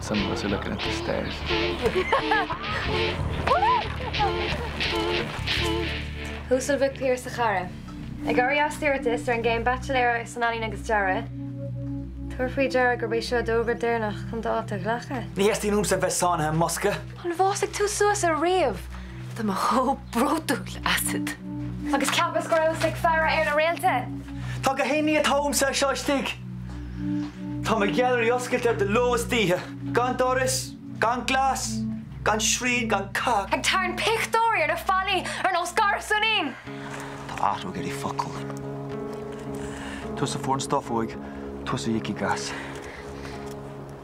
Some of us are looking at the stars. Uasal Mhic Piarais a chara. Ag éirí as d'iarratas ar an gcéim Baitsiléara san Ealaín agus Dearadh, tabhair faoi deara gurb é seo d'fhógra deireanach chun d'áit a ghlacadh. Ní theastaíonn uaimse a bheith sáinnithe i mbosca. An bhfásfaidh tú suas ariamh? Tá mé chomh bródúil asat. Agus cheapas go rabhas ag faire ar na réalta! Tá gach aon ní atá uaimse anseo istigh. Tá mo ghailearaí oscailte de ló is d'oíche, gan doras, gan glas, gan srian, gan cac. Ag tarraingt pictiúirí ar na fallaí ar nós garsúinín. Tá athrú ag iarraidh focal. Tusa a fuair an stuif uaidh, tusa a íocfaidh as.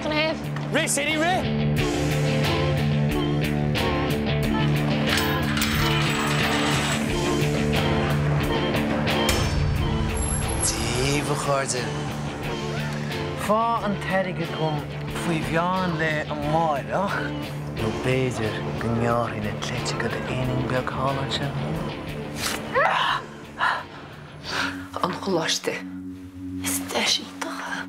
Gníomh. Rith City Rith! Díbh, a chairde! Fág an t-airgead agam faoi mheán lae amáireach, nó b'fhéidir go ngearrfainn na cleiteacha de d'éinín beag thall ansin. an choláiste is deis iontach.